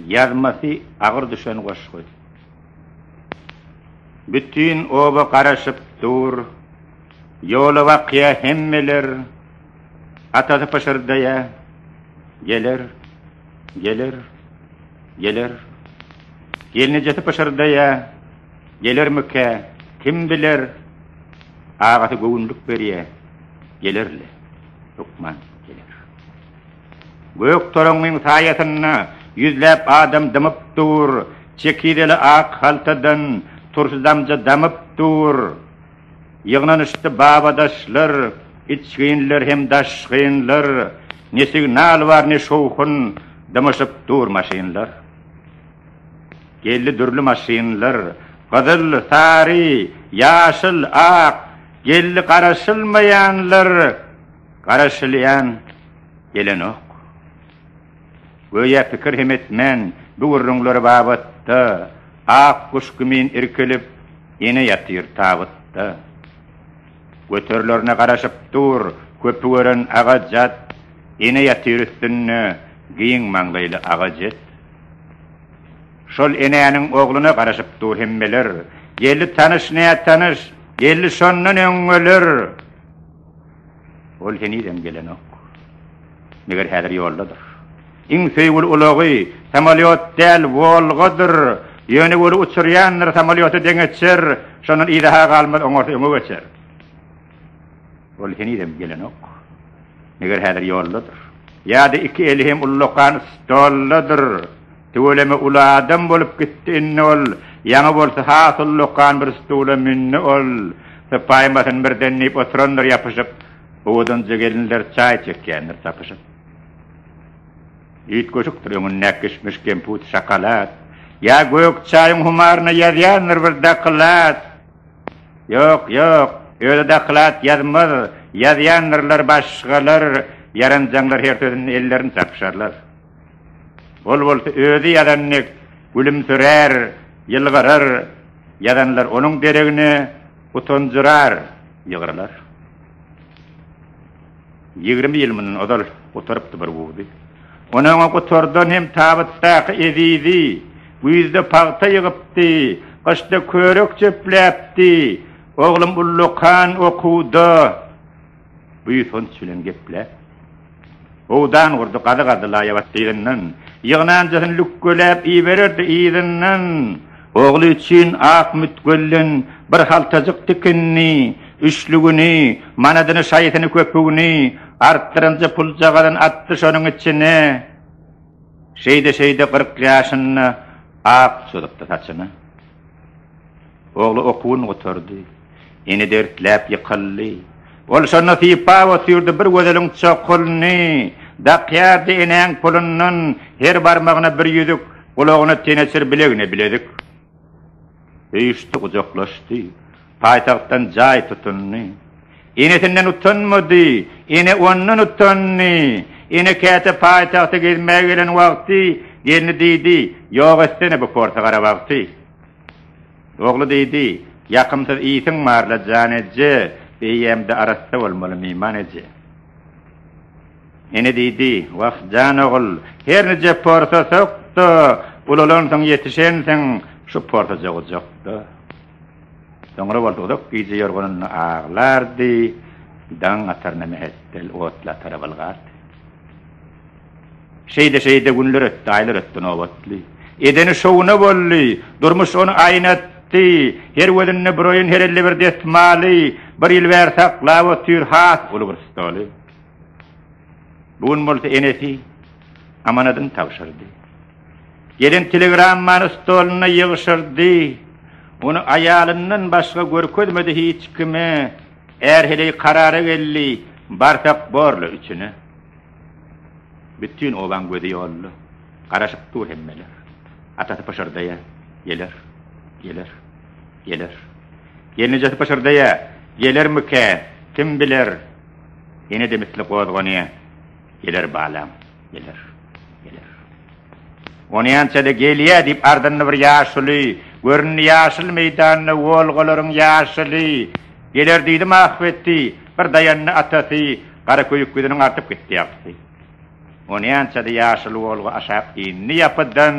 Ýazmasy agyr düşen goşgy. Bütin oba garaşyp dur. Ýola bakýa hemmeler. Atasy pyşyrdaýa, Geler, geler, geler. Gelnejesi pyşyrdaýa, Gelermikä, kim biler. Agasy göwünlik berýä, Geler-le, hökman geler. Gök toraňyň saýasynda ýüzläp adam dymyp dur, Çekizeli ak haltadan turşy damja damyp dur. Ýygnanyşdy babadaşlar, içginler hem daşgynlar, Ne signal bar, ne şowhun, dymyşyp dur maşynlar. Geldi dürli maşynlar, gyzyl, sary, ýaşyl, ak, Geldi garaşylmaýanlar. Garaşylýan gelenok. Göýä pikir hem etmän, bu gürrüňler babatda ak guş kimin irkilip, ene ýatyr tabytda. Göterilerine garaşyp dur, köpi gören aga-jat, ene ýatyr üstünde giň maňlaýly aga-jet. Şol enäniň ogluna garaşyp dur hemmeler, geldi tanyş-nätanyş, geldi şondan öňňeler. Ol henizem gelenok. Meger häzir ýoldadyr. Iň söýgüli ulagy samolýot däl, Wolgadyr. Ýöne weli uçurýandyr, samolýota deňeçer. Şondan yza-ha galmaz, oňarsa öňe geçer. Ol henizem gelenok. Meger häzir ýoldadyr. Ýa-da iki eli hem ullakan stoldadyr. Tüweleme uly adam bolup gitdi indi ol, ýaňy bolsa has uly lokan bir stula mündi ol, sypaýmasyn birden diýip oturandyr ýapyşyp, owadanja gelinler çaý çekýändir tapyşyp. Üýtgeşikdir öňündäki kişmiş kemput şokolad, ýa gök çaýyň humaryna ýazýandyr bir doklad, ýok, ýok, özi doklad ýazmaz, ýazýandyrlar başgalar, ýaranjaňlar her sözünde ellerini çarpyşarlar. Ol bolsa özi ýazan dek gülümsirär, ýylgyrar, ýazanlar onuň deregine utanjyrar, ýygrylar. Ýigrimi ýyl mundan ozal gutarypdy bir guzy. Ony öňe gutardan hem tabytdaky ezizi, güýzde pagta ýygypdy, gyşda körek çöpläpdi. Oglum ullakan okuwda. Buýsanç bilen gepläp, howdan gurdy, gazy-gazy laýabat dyzyndan, ýygnanjasyn lükgeläp ibererdi yzyndan. Ogly üçin ak mütgölden bir haltajyk tikinini, üçlügini, manadyny, şaýysyny, köpügini, artdyrynjy puljagazyn atdy şonuň içine. Şeýde-şeýde gyrk ýaşynda ak çozupdy saçyny. Ogly okuwyn gutardy. Ene dertläp ýykyldy. Ol şonda sypa otyrdy, bir gözeliň çokulyny dakýardy, enäň pulundan her barmagyna bir ýüzük, gulagyna teneçir, bilegine bilezik. Söýüşdi, gujaklaşdy. Paýtagtdan jaý tutundy. Enesinden utanmady. Ene ondan utandy. Ene käte paýtagta gezmäge gelen wagty gelni diýdi, Ýok etsene bu porsa gara wagty. Ogly diýdi, Ýakymsyz ýsiň bar-la, jan eje, beýemde arassa bolmaly, myman eje. Ene diýdi, Wah, jan ogul, her nije porsa sok-da, ulalansyň, ýetişensiň, şu porsaja gujak-da. Soňra ol uzak gije ýorganynda aglardy, daň ataryna mähetdel otly atara bylgardy. Şeýde-şeýde günler ötdi, aýlar ötdi, nobatly. Edeni şowuna boldy. Durmuş ony aýnatdy. Her gözünde bir oýun, her elde bir desmaly. Bir ýyl bäri saklap otyr has uly bir stoly. Bu gün bolsa enesi amanadyny tabşyrdy. Gelen telegrammany stoluna ýygşyrdy. Ony aýalyndan başga görkezmedi hiç kime. Är heleý karara geldi, Barsak borla üçüne. Bütin obaň gözi ýolda, Garaşyp dur hemmeler. Atasy pyşyrdaýar, Geler, geler, geler. Gelnejesi pyşyrdaýar, Gelermikä, kim biler. Ene-de misli gozganýar, Geler balam, geler, geler. Onýança-da gelýär diýip ardynda bir ýaşuly göründi, Ýaşyl meýdanda Wolgalaryň ýaşyly. Geler diýdim ahbetti, bir daýandy atasy, gara köýük ýüzüniň artyp gitdi ýagtysy. Onýança-da ýaşyl Wolga aşak indi ýapydan,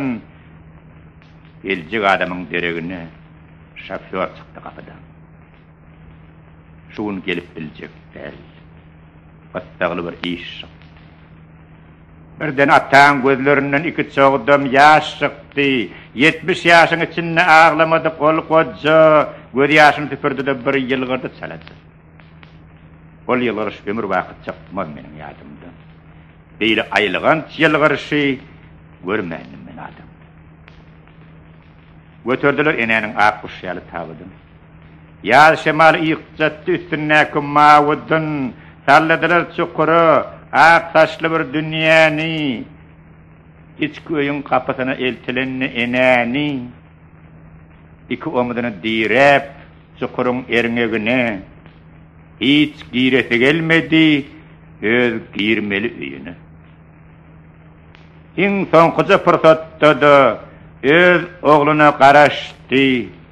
geljek adamyň deregine şofýor çykdy gapydan. Şu gün gelip biljek däl, gyssagly bir iş çykdy. Birden ataň gözlerinden iki çogdam ýaş çykdy. Ýetmiş ýaşyň içinde aglamadyk ol goja gözýaşyny süpürdi-de, bir ýylgyrdy çalaja. Ol ýylgyryş ömürbaky çykmaz meniň ýadymdan. Beýle aýylganç ýylgyryşy görmändim men adamda. Göterdiler enäniň ak guşy ýaly tabydyn. Ýaz şemaly ýygjatdy üstündäki mawy dyn, Salladylar çukura ak saçly bir dünýäni. Içki öýüň gapysyna eltilende enäni, Iki omzuny diräp, çukuryň erňegine, Hiç giresi gelmedi öz girmeli öýüne. Iň soňkuja pursatda-da öz ogluna garaşdy.